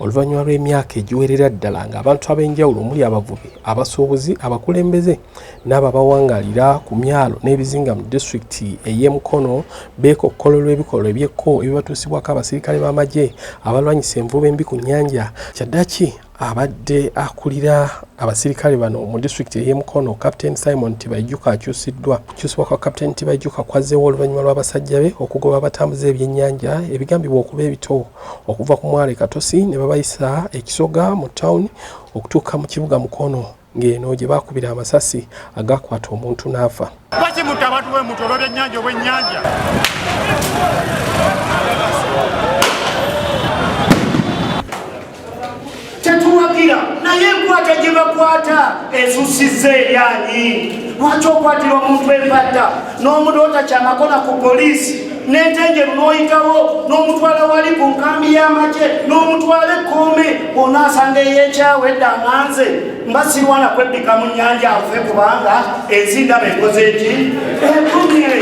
Oluvannyuma lw'emyaka egiwerera ddala ng'abantu ab'enjawulo omuli abavubi, abasuubuzi, abakulembeze n'abo abawangaalira ku myalo n'ebizinga mu disitulikiti ey'e Mukono beekokkola olw'ebikolwa eby'ekko ebibatuusibwako abasirikale b'amagye abalwanyisa envuba embi ku nnyanja kyaddaki abadde akulira abasirikale bano mu disitulikiti ey'e Mukono Captain Simon Tibaijuka akyusiddwa okukyusibwa kwa Captain Tibaijuka kwazzeewo oluvannyuma lw'abasajja be okugoba abatambuza ebyennyanja ebigambibwa okuba ebito okuva ku mwale Katosi ne babayisa ekisoga mu tawuni okutuuka mu kibuga Mukono ng'eno gye baakubira amasasi agaakwata omuntu n'afa. tetuwagira naye enkwata gye bakwata esusizza eryanyi lwaki okwatira omuntu empatta n'omuntu otakyamakona ku poliisi n'entenjeru n'oyitawo n'omutwala wali ku nkambi y'amagye n'omutwala ekkoome ona asanga ey'ekyawo edda nganze mba sirwana kwebbika mu nnyanja afe kubanga ezindaba ekoze eki ekumye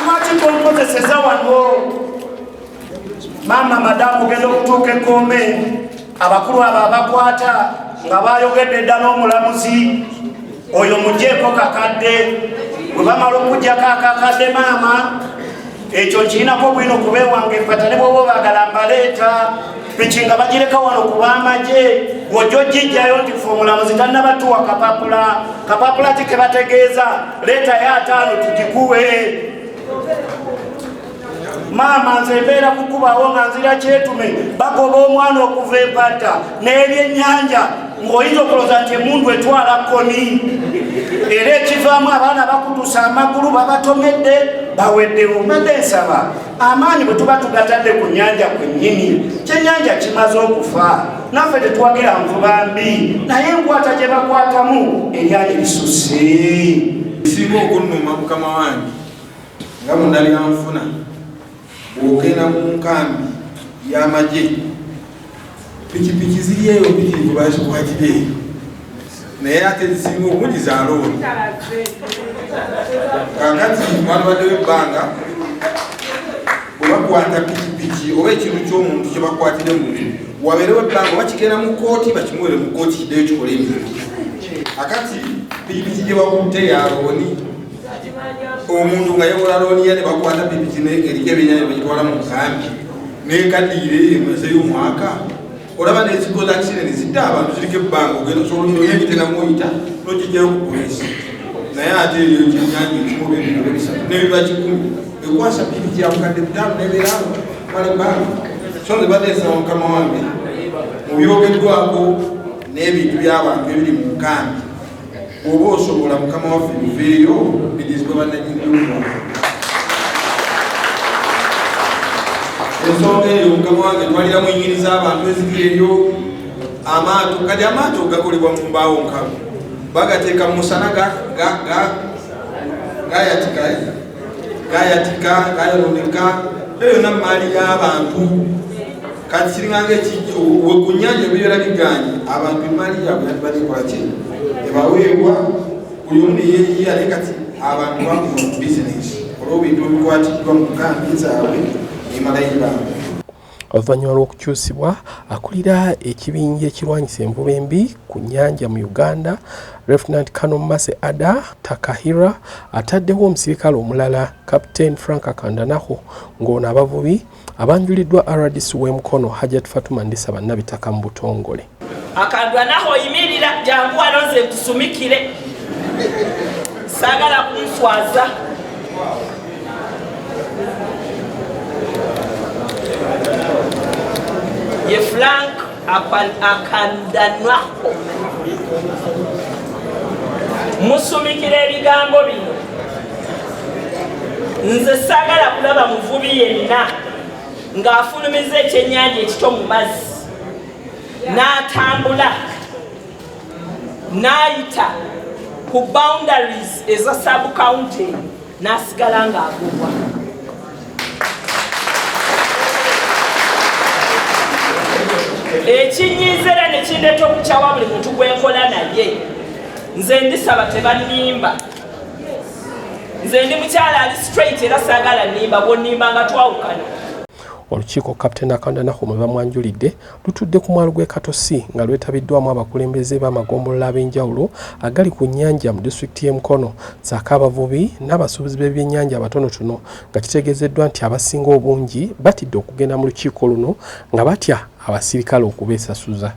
lwaki konkozeseza wano maama madamu ogenda okutuuka ekkombe abakulu abo abakwata nga bayogedde dda n'omulamuzi oyo mujeeko kakadde bwe bamala okujjako akakadde maama ekyo nkirinako bwino kubewange fata ne bwoba obagala mbaleeta piki nga bagireka wano kubamagye wojo jijjayo nti fe omulamuzi tannabatuwa kapapula kapapula ki kebategeeza leetayo ataano tugikuwe maama nze mbeera kukubawo nga nzira kyetume bagoba omwana okuva empata n'ebyennyanja ng'oyinza okuloza nti emundu etwala koni era ekivaamu abaana bakutusa amagulu babatomedde baweddewo mbadde nsaba amaanyi bwe tuba tugatadde ku nyanja kwennyini kyenyanja kimaze okufa naffe tetuwagira nvuba mbi naye enkwata gye bakwatamu eryali lisusse esinga okunnuma mukama wange nga munabyanfuna bwogenda mu nkambi y'amagye pikipiki ziri eyo pikipiki bazikwatira eyo naye ate zisinga obungi za looni kakati mwalibaddewo ebbanga bwebakwata pikipiki oba ekintu ky'omuntu kyebakwatire mu wabeerewo ebbanga oba kigenda mu kooti bakimuwere mu kooti kiddeyo kikole emirimu akati pikipiki gyebakutte ya looni omuntu nga yakola looniya ne bakwata pikipiki neeriko ebyenyayo bagitwala mu nkambi nekaddiire eyo emuzeyo omwaka olaba nezikola kisene nezidda abantu kiriko ebbanga ogenda osobola ononya ebitenamuoyita nokijjayo ku polisi naye ate eyo kyenyanja ekimu oba ebintu ebisatu nebiba kikumi ekwasa pikipiki yabukadde butaano nebeerawo mala ebbanga so nze bateesaba mukama wange mu byogeddwako n'ebintu by'abantu ebiri mu nkambi oba osobola mukama waffe muveeyo bidizibwa bananyingiwa ensonga eyo mukama wange twalira mu nyini z'abantu eziri eyo amaato kati amaato gakolebwa mu mbaawo nkalu bagateeka mu musana gayatika gayatika gayononeka eyo yonna maali y'abantu kati kiringanga wekunyanja ebibeera biganye abantu emaali yabwe yatibalikolaki ebaweebwa buli omu neyeyiya naye kati abantu bakuma bizinesi olwobintu ebikwatiddwa mu kambi zaabwe emalayi baabwe Oluvannyuma lw'okukyusibwa akulira ekibinja ekirwanyisa envuba embi ku nnyanja mu Uganda, Lieutenant Colonel Mercy Ada Takahira ataddewo omusirikale omulala Captain Frank Kandanaho ng'ono abavubi abanjuliddwa rdc w'e Mukono Hajat Fatuma Ndisaba Nabitaka mu butongole. akandwa naho oyimirira jangu wano nze nkusumikire sagala kunswaza ye frank akandanwaho musumikira ebigambo bino nze sagala kulaba muvubi yenna ng'afulumiza ekyennyanja ekito mu mazzi n'atambula n'ayita ku boundaries eza sub county n'asigala ng'agobwa ekinyiiza era ne kindeeta okukyawa buli muntu gwe nkola naye nze ndisaba tebannimba nze ndi mukyala ali straight era saagala nimba bwonimba nga twawukana Olukiiko Captain Akanda Nahum lwe bamwanjulidde lutudde ku mwalo gw'e Katosi nga lwetabiddwamu abakulembeze b'amagombolola ab'enjawulo agali ku nnyanja mu disitulikiti y'e Mukono ssaako abavubi n'abasuubuzi b'ebyennyanja abatonotono nga kitegeezeddwa nti abasinga obungi batidde okugenda mu lukiiko luno nga batya abasirikale okubeesasuza.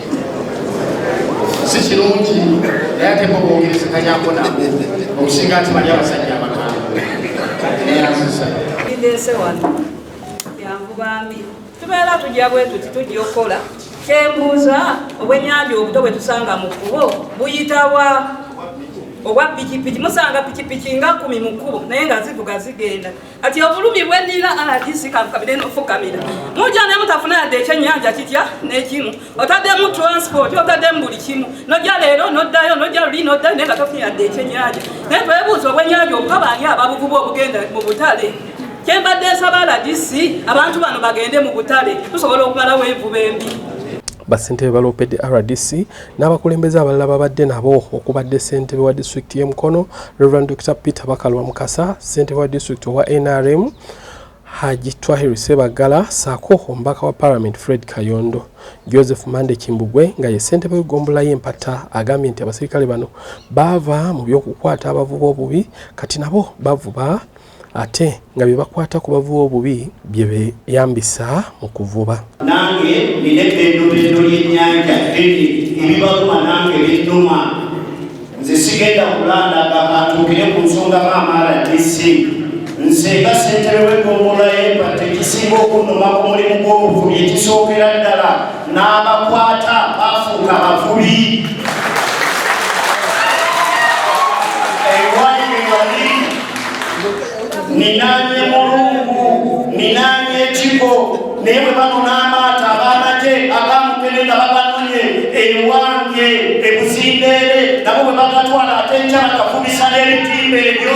si kirungi naye ate bobogerezekanyako nabo okusinga nti bali abasajja abagambo neyanzisa ndese wano yangu bambi tubeera tujja bwetuti tujja okukola kyembuuza obwenyanja obuto bwetusanga mu kubo buyitawa obwa pikipiki musanga pikipiki nga kumi mu kkubo naye nga zivuga zigenda Kati obulumi bwenina alati sikankabire nofukamira muja ne mutafuna yadde ekyenyanja kitya nekimu otaddemu transport otaddemu buli kimu noja leero noddayo noja luli noddayo naye nga tofuna yadde ekyenyanja naye twebuuza obwenyanja obukaba ani ababuvuba obugenda mu butale kyembadde nsaba aladisi abantu bano bagende mu butale tusobola okumalawo envuba embi basente baloopedde rdc N'abakulembeze abalala babadde nabo okubadde ssentebe wa disitulikiti y'e Mukono Rev Dokita Peter Bakalwa Mukasa, ssentebe wa disitulikiti owa nrm Haji Twahir Sebaggala ssaako omubaka wa palamenti Fred Kayondo. Joseph Mande Kimbugwe nga ye ssentebe w'eggombolola y'empatta agambye nti abaserikale bano baava mu by'okukwata abavuba obubi kati nabo bavuba ate nga bye bakwata ku bavuba obubi bye beeyambisa mu kuvuba. Nange nina eddendobendo ly'ennyanja ddene, ebibaluma nange binnuma. Nze sigenda kulandaga kantuukire ku nsonga maama RDC. Nze nga ssentebe w'eggombolola y'e Mpatta ekisinga okunnuma ku mulimu gw'obuvubi ekisookera ddala n'abakwata baafuuka bavubi. ninanye mulungu ninanye ekiko naye bwe bano n'amaato ab'amagye agamukene nga babanonye ewange ebuzindeere nabo bwe bagatwala ate nkya bakafumisa n'ebitimba ebyo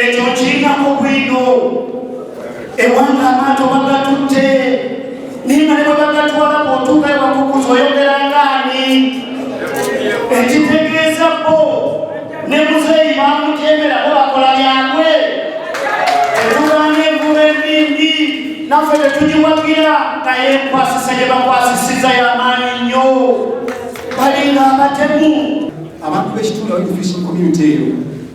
ekyo kirinako bwino ewanga amaato bagatutte naye nga ne bwe bagatwala bwotuuka ewakukuza oyogerangaani ekitegeeza bo ne muzeeyi bamutyemera bo bakola byabwe etuganga envuba embimbi naffe tetugiwagira naye enkwasisa gye bakwasisiza y'amaanyi nnyo balinga abatemu abantu b'ekitundu abali mu fishing community eyo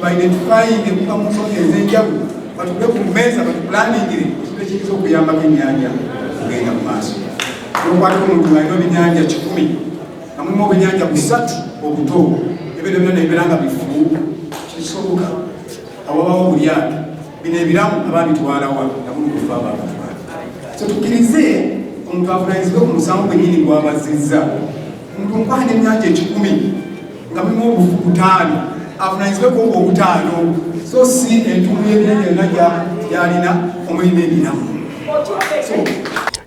baidentifayinge kuva mu nsonga ez'enjawulo batule ku mmeeza batupulaningire ekintu ekiyinza okuyambako ennyanja okugenda mu maaso nokwatako omuntu alina obinyanja kikumi nga mulimu obunyanja busatu obuto ebintu byona nebibeera nga bifu kisoboka awabawo bulyato bino ebiramu ababitwalawa nabulukufa ababatwala so tukirize omuntu avunanyizibwe ku musango gwenyini gwabazizza omuntu nkwahana enyanja ekikumi nga mulimu obufu butaano avunanyizibweko nga obutaano so si entumu y'ebinene yonna gyalina omuli n'ebiramu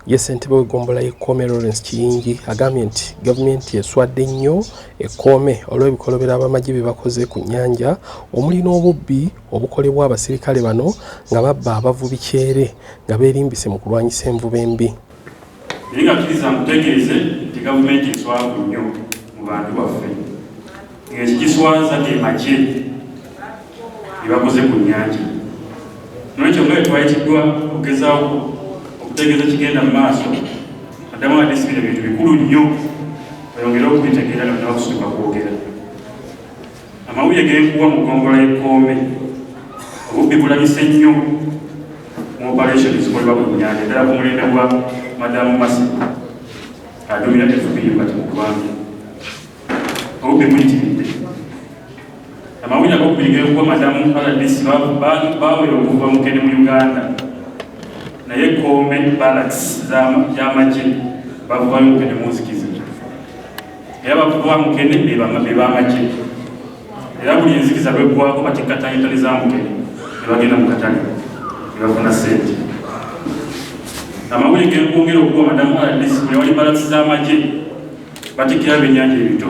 ye ssentebe w'eggombolola y'ekkoome lawrence kiyingi agambye nti gavumenti eswadde nnyo ekkoome olw'ebikolobero abamagye bye bakoze ku nnyanja omuli n'obubbi obukolebwa abasirikale bano nga babba abavubi kyere nga beerimbise mu kulwanyisa envuba embi naye nga kkiriza nkutegeeze nti gavumenti eswavu nnyo mu bantu baffe ng'ekigiswaza ge magye ebakoze ku nnyanja nolwekyo nga etwayitiddwa okugezawo okutegeeza kigenda mu maaso addamu adisibira ebintu bikulu nnyo oyongere okubitegeera nga nabakusituka kwogera Amawulire g'enkuba mu ggombolola y'e Kkoome, obubbi bulabise nnyo mu operation zikolebwa ku nnyanja ddala ku mulembe gwa Madamu Masi aduumira FPU kati mu ggwanga. Obubbi buyitiridde. Amawulire ag'okubiri g'enkuba Madamu RDC baawera okuva mukene mu Uganda naye Kkoome balaks gy'amagye bavubayo mukene munzikiza. era bakuba mukene bebamagye era buli enzikiza lweggwako batikkattanya entale za mukene ne bagenda mu katale ne bafuna sente amawulire genkwongera okuwa madamu rdc buli wali balasi z'amagye batikkira byennyanja ebito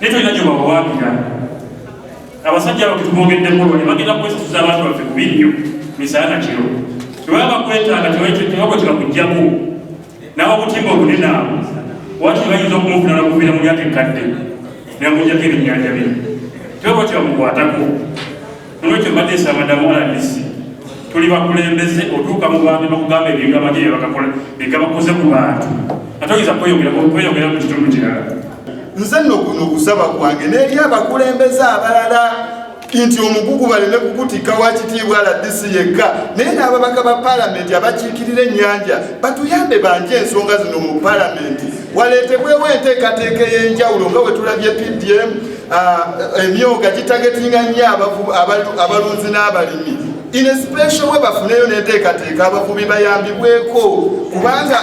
naye tolina gyobawawaabira abasajja abo ketubongeddemu olwali bagenda kwesasuza abantu baffe kubi nnyo misaya na kiro tebaba bakwetaaga tebabwe tebakugjamu nawe obutimba obunene abo wati bayinza okumufuna nakuviira mu lyaka ekkadde nemujjako ebinnyanja bye tebabwe tebamukwatako Nolwekyo mbadde nsaba madamu RDC tuli bakulembeze otuuka mu bantu bakugamba ebintu abanye byebakakola byegabakoze ku bantu ate oyinza kweyongera mu kitundu kirala. Nze nno guno okusaba kwange n'eri abakulembeze abalala nti omugugu baleme kukutikka wa kitiibwa RDC yekka naye n'ababaka ba palamenti abakiikirira ennyanja batuyambe banje ensonga zino mu palamenti waleetebwewo enteekateeka ey'enjawulo nga bwe tulabye PDM Ah, emyoga gitagetinga nnyo abalunzi n'abalimi inespecial we bafuneyo neteekateeka abavubi bayambibweko kubanga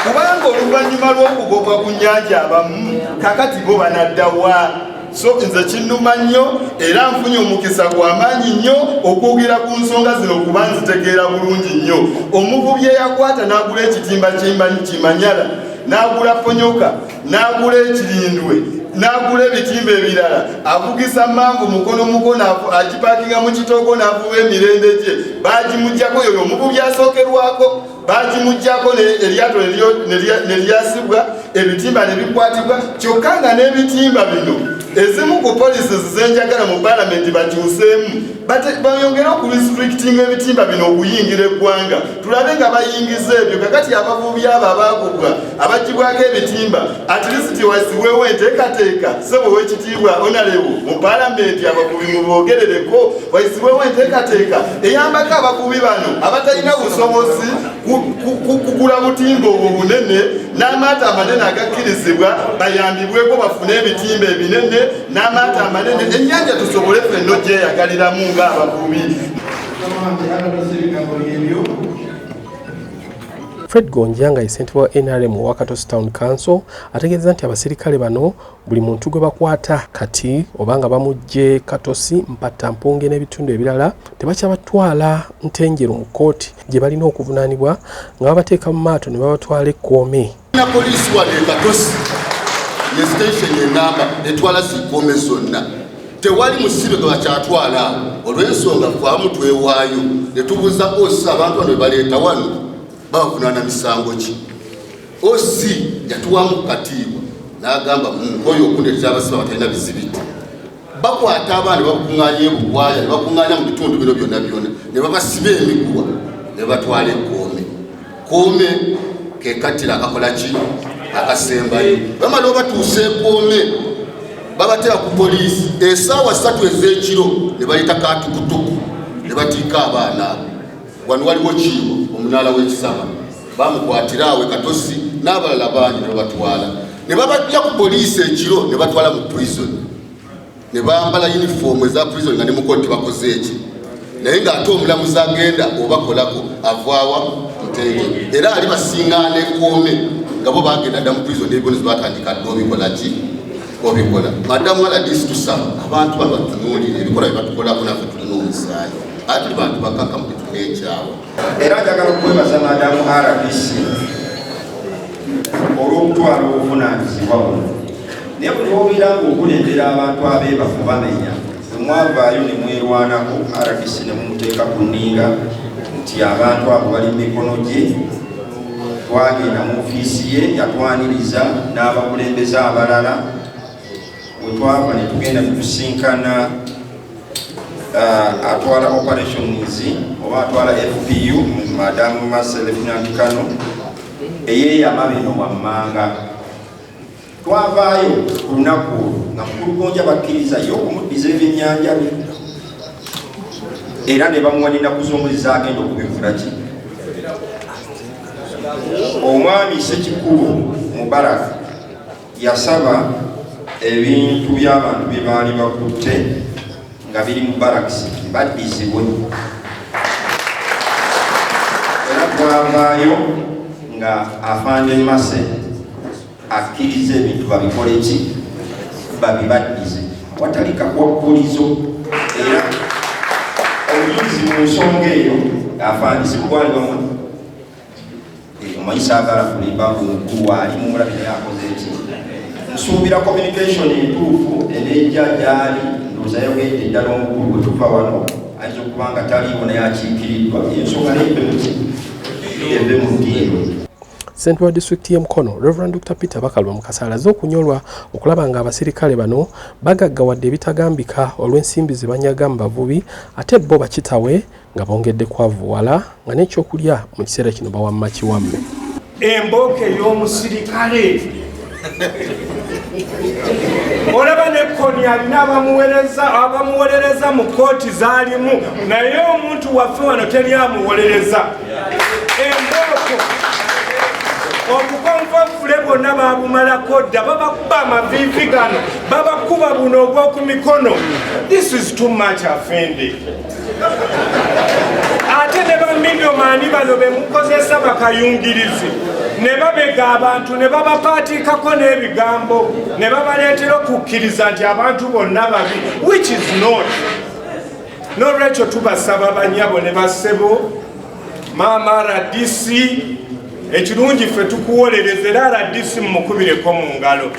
kubanga oluvannyuma lw'okugobwa ku nyanja abamu kakati bo banaddawa so nze kinnuma nnyo era nfunye omukisa gw'amaanyi nnyo okwogera ku nsonga zino kuba nzitegeera bulungi nnyo omuvubi eyakwata n'agula ekitimba kimanyala n'agula ponyoka n'agula ekirindwe n'agula ebitimba ebirala avugisa mangu mukono mukono agipakinga mu kitoogo n'avuba emirembe gye bagimugyako yoyo omubu byasookerwako bagimugyako eryato ne lyasibwa ebitimba ne bikwatibwa kyokka nga n'ebitimba bino ezimu ku policies zenjagala mu palamenti bakyuseemu bayongere okurestrictinga ebitimba bino okuyingira eggwanga tulabe nga bayingiza ebyo kakati abavubi abo abagugwa abagibwako ebitimba atlisiti wazibwewo enteekateeka sebo wekitiibwa onalebu mu palamenti abavubi mubogerereko wazibwewo enteekateeka eyambako abavubi bano abatalina busobozi kugula butimba obwo bunene n'amaato amanene agakkirizibwa bayambibweko bafune ebitimba ebinene n'amaato amanene ennyanja tusobole fenno gyeyagaliramu ng'abavubi Fred Gonja nga ye ssentebe wa NRM owa Katosi Town Council ategeeza nti abaserikale bano buli muntu gwe bakwata kati oba nga bamuggye Katosi, Mpatta, Mpunge n'ebitundu ebirala tebakyabatwala Ntenjeru mu kkooti gye balina okuvunaanibwa nga babateeka mu maato ne babatwala ekkoome. na poliisi wano ekatosi ne sitenseni enamba etwala zikome zonna tewali musibe gwe bakyatwala olw'ensonga faamu twewaayo ne tubuuza osi abantu bano bebaleeta wano babavunaana misango ki osi yatuwamu kukatiibwa n'agamba munkoyo okundeetera abasibe abatalina bizibiti bakwata abaana bakuŋŋaanya ebuwaaya ne bakuŋŋaanya mu bitundu bino byonna byonna ne babasiba emiguwa ne batwala ekkoome kkoome ke kattira akakola ki akasembayo bamala obatuusa ekkoome babatera ku poliisi esaawa ssatu ez'ekiro ne bayita katukutuku ne batiika abaana abo Wano waliwo kiibo omunaala w'ekisama bamukwatira awe katosi n'abalala bangi ne babatwala ne babajja ku poliisi ekiro ne batwala mu prison ne bambala yunifoomu eza prison nga ne mukolo tebakoze eki naye ng'ate omulamuzi agenda obakolako avaawa mutenge era ali basingaana ekoome nga bo bagenda dda mu prison n'ebibonezo batandika dda obikolaki obikola madamu aladisi tusaba abantu bano batunuulira ebikola byebatukolako naffe tulina omusaayi ati tuli bantu bakakamu tetulina ekyawa era njagala okwebaza madamu rdc olw'okutwala obuvunaanyizibwa buno naye buli obeera ngaokulembera abantu abeebafu bamenya Bwe mwavaayo ne mwerwanako, rdc ne mumuteeka ku nninga nti abantu abo bali mu mikono gye, twagenda mu ofiisi ye yatwaniriza n'abakulembeze abalala we twava ne tugenda tutusinkana uh, atwala operations oba atwala fpu madamu maselefinankano eyeeyama bino wammanga Twavaayo ku lunaku olwo nga mukulugonja bakkiriza ye okumuddiza ebyennyanja bye era ne bamuwa n'ennaku z'omwezi zaagenda okubivula ki omwami sekikubo mubaraka yasaba ebintu by'abantu bye baali bakutte nga biri mu barakisi baddizibwe era twavaayo nga afande mase akkiriza ebintu babikole ki babibaddize watali kakwakkulizo era omuyizi mu nsonga eyo afaanisi kukwaliwamu eh, omanyi saagala kulimba kunkulu ali mumulabi naye akoze eki nsuubira communication entuufu enejja gyali ndooza yogende eddala omukulu bwe tuva wano ayinza okuba nga taliiwo naye akiikiriddwa ensonga naye eve mu ddiiro Ssentebe wa disitulikiti y'e Mukono, Rev. Dr. Peter Bakalwa Mukasa alaze okunyolwa okulaba ng'abasirikale bano bagaggawadde ebitagambika olw'ensimbi ze banyaga mu bavubi ate bo bakitawe nga bongedde kwavuwala nga n'ekyokulya mu kiseera kino bawamma kiwamme. Embooko ey'omusirikale. olaba ne koni alina abamuwereza abamuwolereza mu kooti zalimu naye omuntu waffe wano teri amuwolereza embooko obukonvovule bwonna babumalako dda babakuba amaviivi gano babakuba buno ogwoku mikono this is too much afende ate ne baminomani bano bemukozesa bakayungirizi ne babega abantu ne babapaatiikako n'ebigambo ne babaleetera okukkiriza nti abantu bonna babi which is not n'olwekyo tubasaba banyabo ne bassebo maama rdc ekirungi ffe tukuwolereza era rdc mumukubireko mu ngalo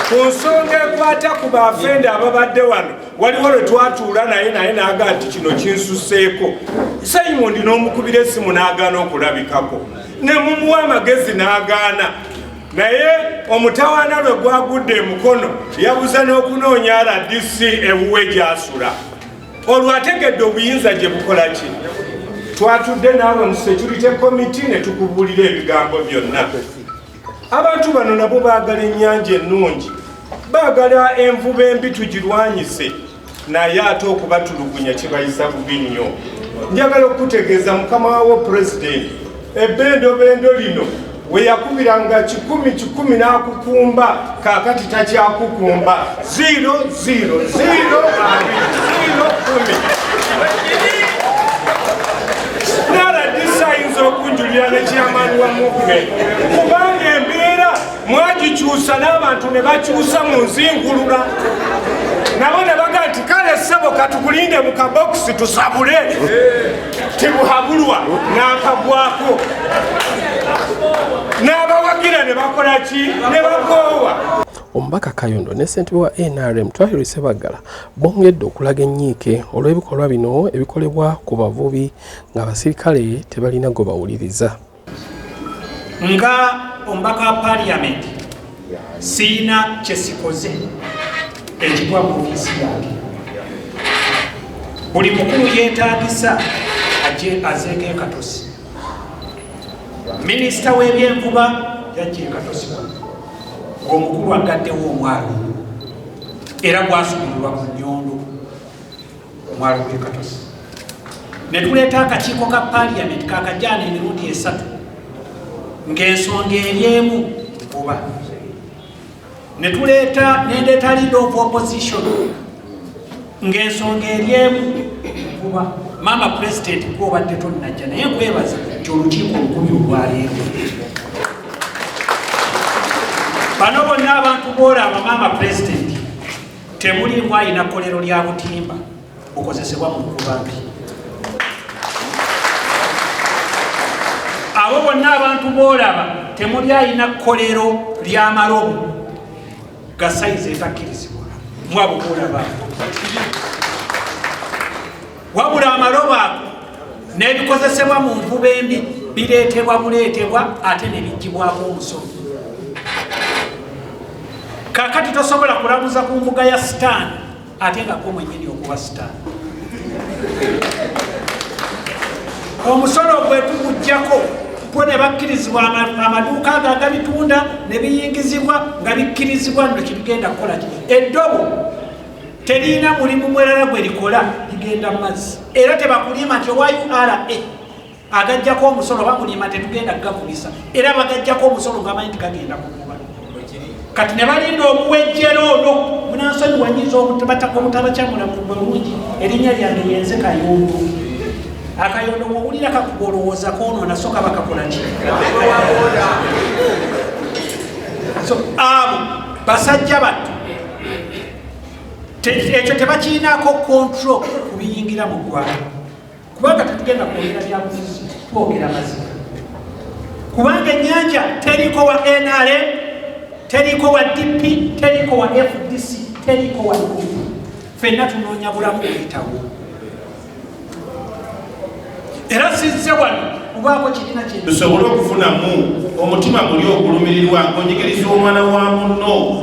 ku nsonga ekwata ku bafende ababadde wano waliwo lwe twatuula naye naye naaga nti kino kinsuseeko simon n'omukubira esimu n'agaana okulabikako ne mumuwa amagezi n'agaana naye omutawaana lwe gwagudde emukono yabuza n'okunoonya rdc ewuwe gyasula olwo ategedde obuyinza gye bukola ki twatudde naawe mu security committee ne tukubuulira ebigambo byonna Abantu bano nabo baagala ennyanja ennungi, baagala envuba embi tugirwanyise, naye ate okubatulugunya kibayisa bubi nnyo. Njagala okukutegeeza mukama wawo pulezidenti ebbendobendo lino we yakubiranga kikumi kikumi n'akukumba, kaakati takyakukumba. zero zero zero zero kumi naradisa ayinza okunjulira ne chairman wa movement kubanga embeera mwagikyusa n'abantu ne bakyusa mu nzingulula nabo ne baga nti kale ssebo katukulinde mu kabokisi tusabule tibuhabulwa n'akagwako n'abawagira ne bakola ki ne bakoowa Omubaka Kayondo ne ssentebe wa NRM Twahiri Ssebaggala bongedde okulaga ennyiike olw'ebikolwa bino ebikolebwa ku bavubi ng'abasirikale tebalina gwe bawuliriza. Nga omubaka wa paaliyamenti siina kye sikoze ekigwa mu ofiisi yange. Buli mukulu yeetaagisa ajje azeeko ekatosi. Minisita w'ebyenvuba yajja ekatosi wano. ng'omukulu aggaddewo omwalo ogwo era gwasumululwa ku nyondo omwalo gwe katosi ne tuleeta akakiiko ka paliyamenti kakajaana emirundi esatu ng'ensonga eryemu oba ne tuleeta nendeeta lead of opposition ng'ensonga eri emu kuba maama pulezidenti kuba obadde tonnajja naye nkwebaza nti olukiiko olukumi olwaleero bano bonna abantu boolaba maama pulezidenti temulimu alina kkolero lya butimba okozesebwa mu nkuba mbi abo bonna abantu boolaba temuli alina kkolero ly'amalobo gasayizi etakkirizibwa mwabo kulaba wabula amalobo ago n'ebikozesebwa mu nvuba embi bireetebwa buleetebwa ate ne biggibwako omusolo kakati tosobola kulamuza ku mbuga ya sitaani ate nga ko mwenyini okuba star omusolo gwetugujjako gwo ne bakkirizibwa amaduuka ago agabitunda ne biyingizibwa nga bikkirizibwa no kitugenda kukola ki eddobo terina mulimu mwerala gwe likola ligenda mu mazzi era tebakulima nti owa ura agajjako omusolo bamulima tetugenda kugakubisa era bagajjako omusolo ngamanyi nti gagenda kukuba kati ne balinda obuwejjera ono munansonyi wanyiza obutebataka obutabakyamula mu bulungi erinnya lyange yenze kayondo akayondo wowulira kakuba olowooza konoona soka bakakola ki so abo basajja battu ekyo tebakiinaako kontrol ku biyingira mu ggwanga kubanga tetugenda kwogera byabufuzi twogera mazima kubanga enyanja teriko wa nrm teriko wa dp teriko wa fdc teriko wa u fenna tunoonya bulamu buyitawo era sizze wano kubaako kirina kye tusobole okufunamu omutima muli ogulumirirwa onjigiriza omwana wa munno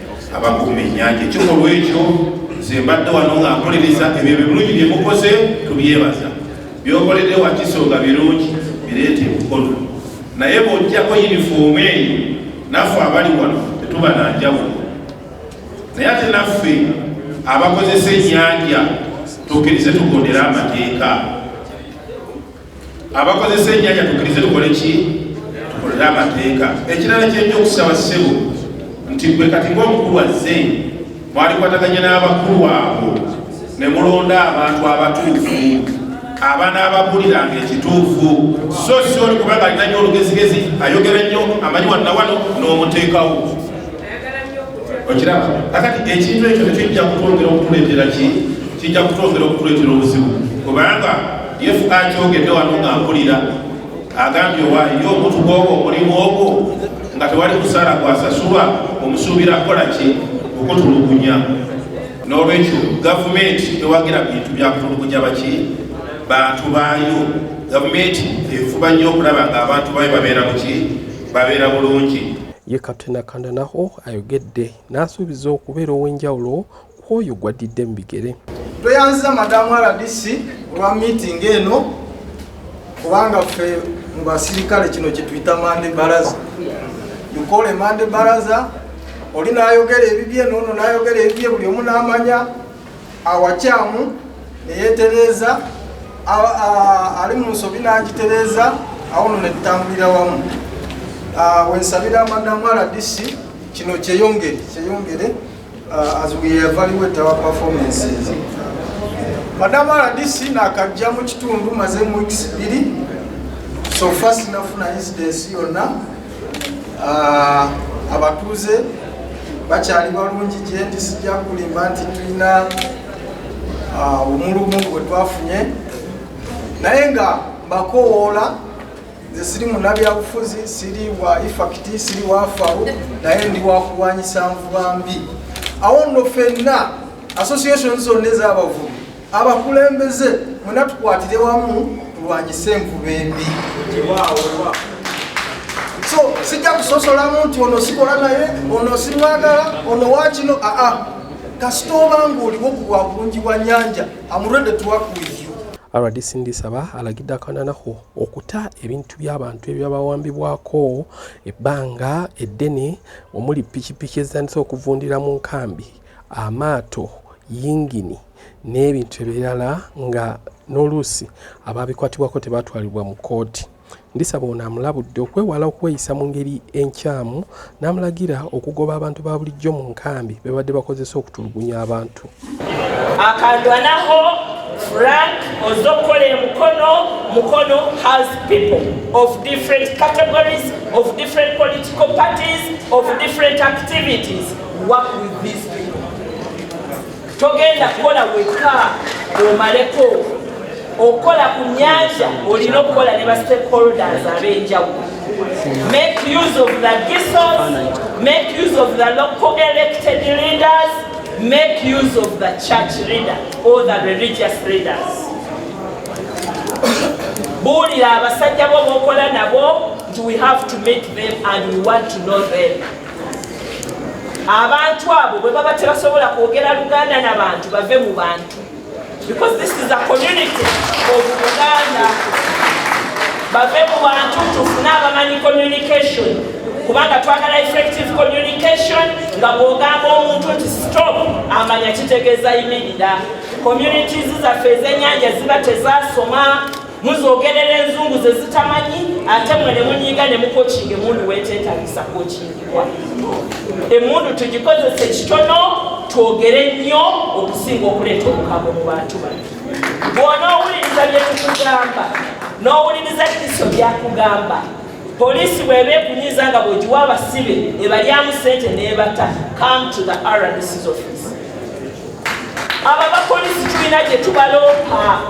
abakuuma ennyanja ekyo olwekyo nze mbadde wano nga nkolereza ebyo ebirungi bye mukoze tubyebaza byokoledde wakiso nga birungi bireeta ebukono naye bwojjako yunifoomu eyo naffe abali wano tetuba na njawulo naye ate naffe abakozesa ennyanja tukkirize tugondera amateeka abakozesa enyanya tukirize tukole ki tukolere amateeka ekirala kyenjokusaba ssebo nti gwe kati ngaomukulu azze mwalikwataganya n'abakulu abo ne mulonda abantu abatuufu abaana ababuliranga ekituufu so si oli kubanga alina nyo olugezigezi ayogera nnyo amanyi wannawano n'omuteekawo okiraba kakati ekintu ekyo nekijja kutwongera okutuleetera ki kijja kutwongera okutuleetera obuzibu kubanga yesu akyogedde wano nga mpulira agambye owaayo ye omuntu gwogwo omulimu ogwo nga tewali musaala gwasasulwa omusuubira kukola ki okutulugunya n'olwekyo gavumenti ewagira bintu byakutulugunya baki bantu baayo gavumenti efuba nnyo okulaba nga abantu baayo babeera muki babeera bulungi Ye Captain Akandanaho ayogedde n'asuubiza okubeera ow'enjawulo ku oyo gwaddidde mu bigere. Tweyanziza Madamu RDC olwa miitingi eno kubanga ffe mu basirikale kino kyetuyita mande baraza yukole mande baraza oli nayogera ebibye nono nayogera ebibye buli omu namanya awakyamu neyetereeza ali mu nsobi n'agitereeza awono ne tutambulira wamu wensabira madamu rdc kino kyeyongere kyeyongere as we evaluate our performances madamu rdc nakajja mu kitundu maze mu weeks biri so fast nafuna incidence yonna Ah, abatuuze bakyali balungi gyendi sijja kulimba nti tulina ah, omulumu gwe twafunye naye nga mbakowoola nze siri munabyabufuzi siri wa ifakiti siri wafawo naye ndi wakulwanyisa nvuba mbi awo nno fenna association zonna ez'abavubi abakulembeze mwena tukwatire wamu tulwanyise envuba embi so sijja kusosolamu nti ono sikola naye ono simwagala ono wakino aa kasita oba ngaoliwo ku bwa bulungi bwa nyanja amurede tuwakuiyo rdc ndisaba alagidde akananaho okuta ebintu by'abantu ebyabawambibwako ebbanga eddene omuli pikipiki ezitandise okuvundira mu nkambi amaato yingini n'ebintu ebirala nga n'oluusi abaabikwatibwako tebaatwalibwa mu kkooti. Ndisaba ono amulabudde okwewala okweyisa mu ngeri enkyamu n'amulagira okugoba abantu ba bulijjo mu nkambi be babadde bakozesa okutulugunya abantu. akandwanaho frank ozokola emukono mukono has people of different categories of different political parties of different activities work with these people togenda kukola wekka omaleko okukola ku nyanja olina okukola ne ba stakeholders ab'enjawulo make use of the gisos make use of the local elected leaders make use of the church leader or the religious leaders buulira abasajja bo bokola nabo nti we have to meet them and we want to know them abantu abo bwe baba tebasobola kwogera luganda na bantu bave mu bantu because this is a community of uganda bave mu bantu tufune abamanyi communication kubanga twagala effective communication nga bwogamba omuntu nti stop amanya kitegeeza yimirira communities zaffe ezenyanja ziba tezasoma muzogerera enzungu ze zitamanyi ate mwe ne munyiiga ne mukokinga emundu weeteetagisa kokingibwa emundu tugikozese kitono twogere nnyo okusinga okuleeta obukago mu bantu bano bwona owuliriza bye tukugamba n'owuliriza kristo byakugamba poliisi bweba ekunyiza nga bwegiwa abasibe ebalyamu sente nebata come to the rncs office abo abapoliisi tulina gye tubaloopa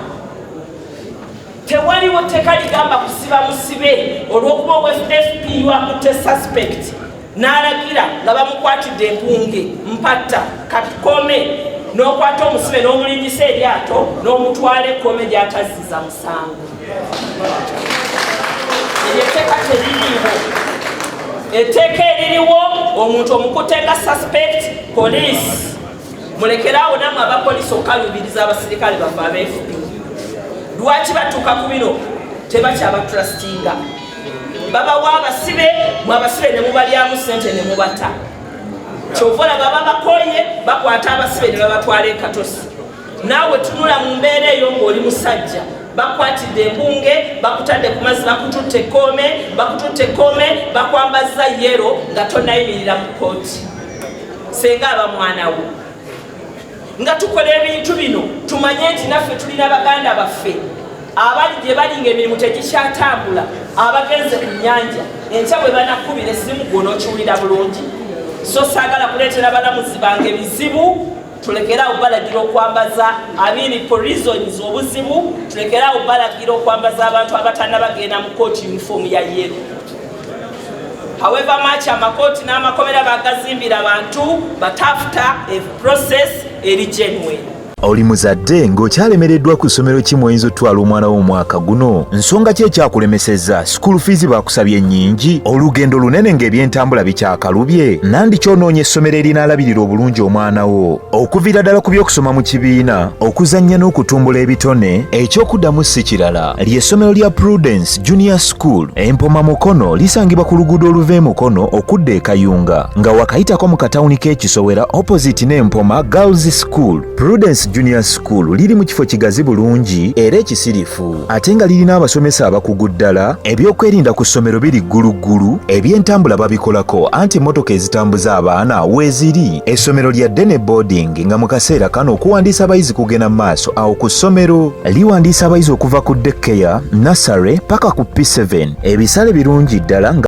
tewaliwo tteka ligamba kusiba musibe olw'okuba owfp wakutte suspect n'alagira nga bamukwatidde empunge mpatta katukome n'okwata omusibe n'omulingisa eryato n'omutwala ekkome gy'atazziza musango eryo etteeka teririiwo etteeka eririwo omuntu omukutte nga suspect poliisi mulekeraawo namwe abapolisi okukalubiriza abasirikale bafe abefp lwaki batuuka ku bino tebakyabatrustinga babawa abasibe mwe abasibe ne mubalyamu sente ne mubata kyova olaba babakoye bakwata abasibe ne babatwala ekatosi naawe tunula mu mbeera eyo ng'oli musajja bakwatidde embunge bakutadde ku mazzi bakututte ekkoome bakututte ekkoome bakwambazza yero nga tonayimirira mu kooti senga aba mwana wo nga tukola ebintu bino tumanye nti naffe tulina baganda baffe abali gye bali nga emirimu tegikyatambula abagenze ku nyanja enkya bwe banakubira esimu gwona okiwulira bulungi so saagala kuleetera balamuzi bange bizibu tulekere awo balagira okwambaza abiri po reasons obuzibu tulekere awo balagira okwambaza abantu abatanabagenda mu kooti uniform ya yero However much amakooti n'amakomera bagazimbira abantu but after a process eri genuine oli muzadde ng'okyalemereddwa ku ssomero ki mw'oyinza otutwala omwana wo omwaka guno nsonga ki ekyakulemesezza sikuulu fiizi baakusabye ennyingi olugendo lunene ng'ebyentambula bikyakalubye nandi kyonoonya essomero erinaalabirira obulungi omwana wo okuviira ddala ku by'okusoma mu kibiina okuzannya n'okutumbula ebitone eky'okuddamu si kirala ly'essomero lya Prudence Junior School empoma Mukono lisangibwa ku luguudo oluva e Mukono okudda e Kayunga nga wakayitako mu katawuni k'ekisowera opposite n'empoma Girls School. Prudence Junior School liri mu kifo kigazi bulungi era ekisirifu ate nga lirina abasomesa abakugu ddala, ebyokwerinda ku ssomero biri gguluggulu, ebyentambula babikolako anti emmotoka ezitambuza abaana weeziri, essomero lya ddene boarding Genga mu kaseera kano okuwandiisa abayizi kugenda mu maaso awo ku ssomero liwandiisa abayizi okuva ku dekeya nasare paka ku p7 ebisale birungi ddala nga